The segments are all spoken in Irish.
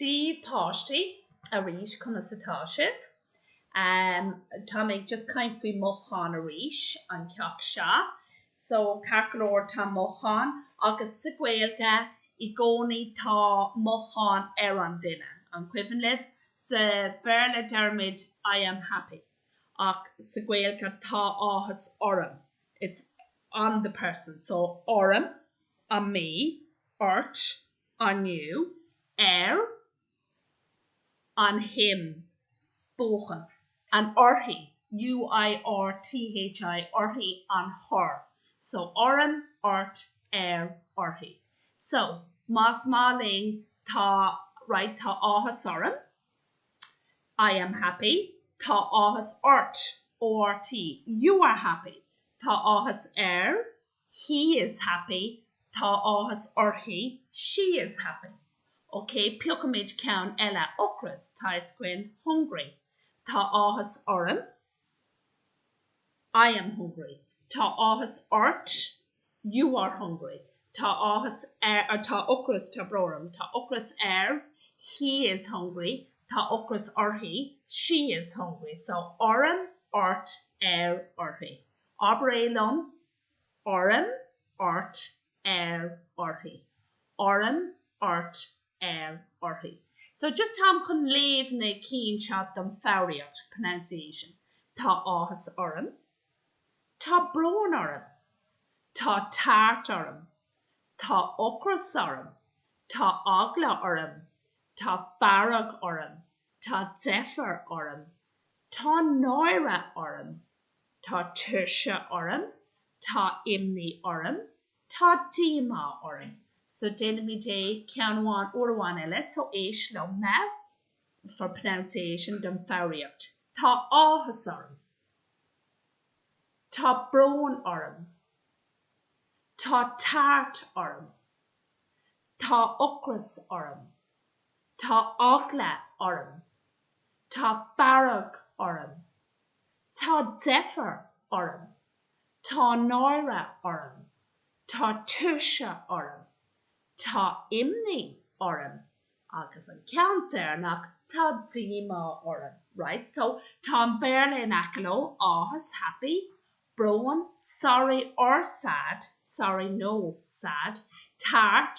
Dia daoibh páistí arís conas atá sibh? Tá mé ag just caint faoi mothúcháin arís an ceacht seo so ceart go leor tá mothúcháin agus sa Gaeilge i gcónaí tá mothúcháin ar an duine an cuimhin libh? Sa Bhéarla deirimid I am happy ach sa Gaeilge tá áthas orm it's on the person so orm on me ort on you, air on him, buachan, and uirthi, UIRTHI, uirthi, on her, so orm, ort, air, uirthi. So, más maith linn, tá, right, tá áthas orm, I am happy, tá áthas ort, ORT, you are happy, tá áthas air, He is happy, Tá áthas uirthi. She is happy. Ok, piocfaimid ceann eile. ocras, tá sé sin hungry, Tá áthas orm. I am hungry. Tá áthas ort. You are hungry. Tá áthas air, Tá ocras, tá brón orm. Tá ocras air. He is hungry. Tá ocras uirthi. She is hungry. So, orm, ort, air, uirthi. Abraigí liom. orm, ort, air, uirthi. orm, ort, air, uirthi So just táim chun léamh na cinn seo don foghraíocht, pronunciation Tá áthas orm. Tá brón orm. Tá tart orm. Tá ocras orm. Tá eagla orm. Tá fearg orm. Tá deifir orm. Tá náire orm. Tá tuirse orm. Tá imní orm. Tá díomá orm. So déanfaimid é ceann amháin uair amháin eile, so éist liom now for pronunciation don foghraíocht. Tá áthas orm. Tá brón orm. Tá tart orm. Tá ocras orm. Tá eagla orm. Tá fearg orm. Tá deifir orm. Tá náire orm. Tá tuirse orm. Tá imní orm. Agus an ceann deireanach, tá díomá orm. Right, so tá an Béarla in aice leo, áthas, happy, brón, sorry or sad, sorry, nó, sad, tart,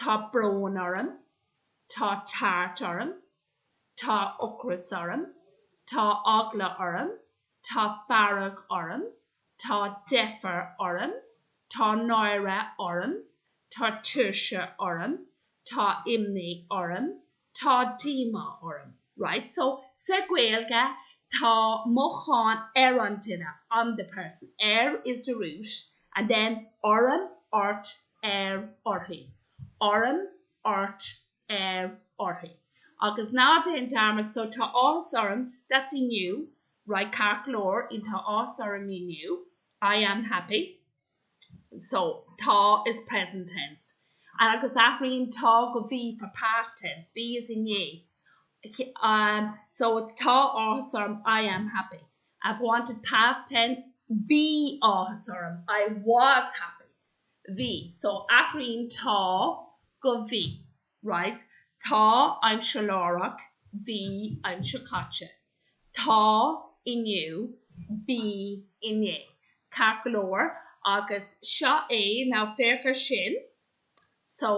Tá brón orm, tá tart orm, tá ocras orm, tá eagla orm, tá fearg orm, tá deifir orm, tá náire orm, tá tuirse orm, tá imní orm, Tá díomá orm, right? So, sa Gaeilge, tá mothúcháin ar an duine, on the person. Ar is the root, and then orm, ort, air, uirthi. Orm, ort, air, uirthi. Agus ná déan dearmad, so tá áthas orm, that's inniu, right, ceart go leor, inniu tá áthas orm inniu, I am happy. so tá is present tense agus athraíonn tá go bhí for past tense, bhí is inné um so it's tá áthas orm I am happy if I wanted past tense bhí áthas orm I was happy bhí so athraíonn tá go bhí. right, tá aimsir láithreach, bhí aimsir chaite, tá inniu, bhí inné. Ceart go leor, agus seo é, now féach air sin, so,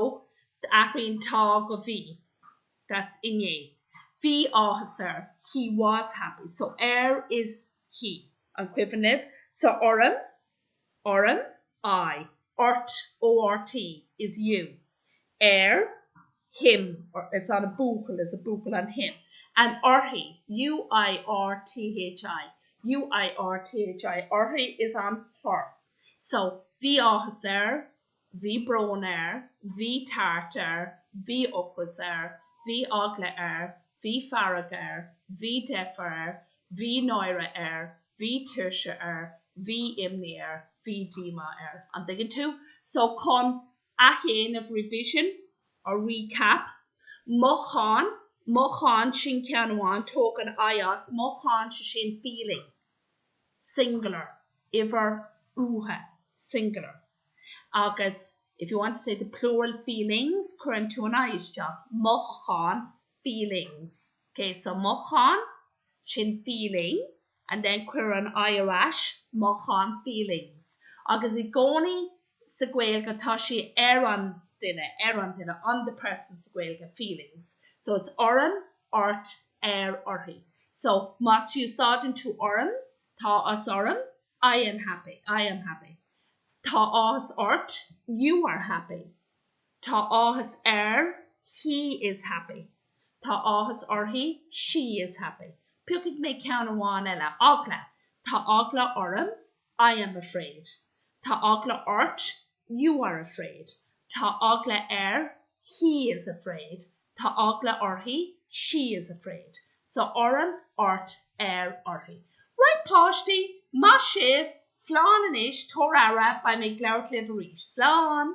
athraíonn tá go bhí, that's inné, bhí áthas air, he was happy, so air is he, an cuimhin libh? Sa fhorainm, orm, I, ort, ORT, is you, air, him, it's on a buachaill, is a buachaill on him, and uirthi, UIRTHI, UIRTHI, uirthi is on her. So, Bhí áthas air, Bhí brón air, bhí tart air, bhí ocras air, bhí eagla air, bhí fearg air, bhí deifir air, bhí náire air, bhí tuirse air, bhí imní air, bhí díomá air. An dtuigeann tú? So chun athdhéanamh revision or recap, mothúchán, mothúchán sin ceann amháin, tóg an I as, mothúchán, sé sin feeling, singular, uimhir uatha, singular. agus if you want to say the plural feelings cuireann tú an I isteach, mothúcháin feelings, ok, so mothúchán, sin feeling and then cuir an I ar ais, mothúcháin feelings agus i gcónaí sa Gaeilge tá sé ar an duine, ar an duine on the person sa Gaeilge, feelings, so it's orm, ort, air, uirthi, so má úsáideann tú orm, Tá áthas orm, I am happy, I am happy. Tá áthas ort, you are happy. Tá áthas air, he is happy. Tá áthas uirthi, she is happy. Piocfaidh mé ceann amháin eile. Eagla. Tá eagla orm, I am afraid. Tá eagla ort, You are afraid. Tá eagla air. He is afraid. Tá eagla uirthi. She is afraid. So orm, ort, air, uirthi. Right páistí! Maith sibh! Slán anois! Tabhair aire! Beidh mé ag labhairt libh arís. Slán!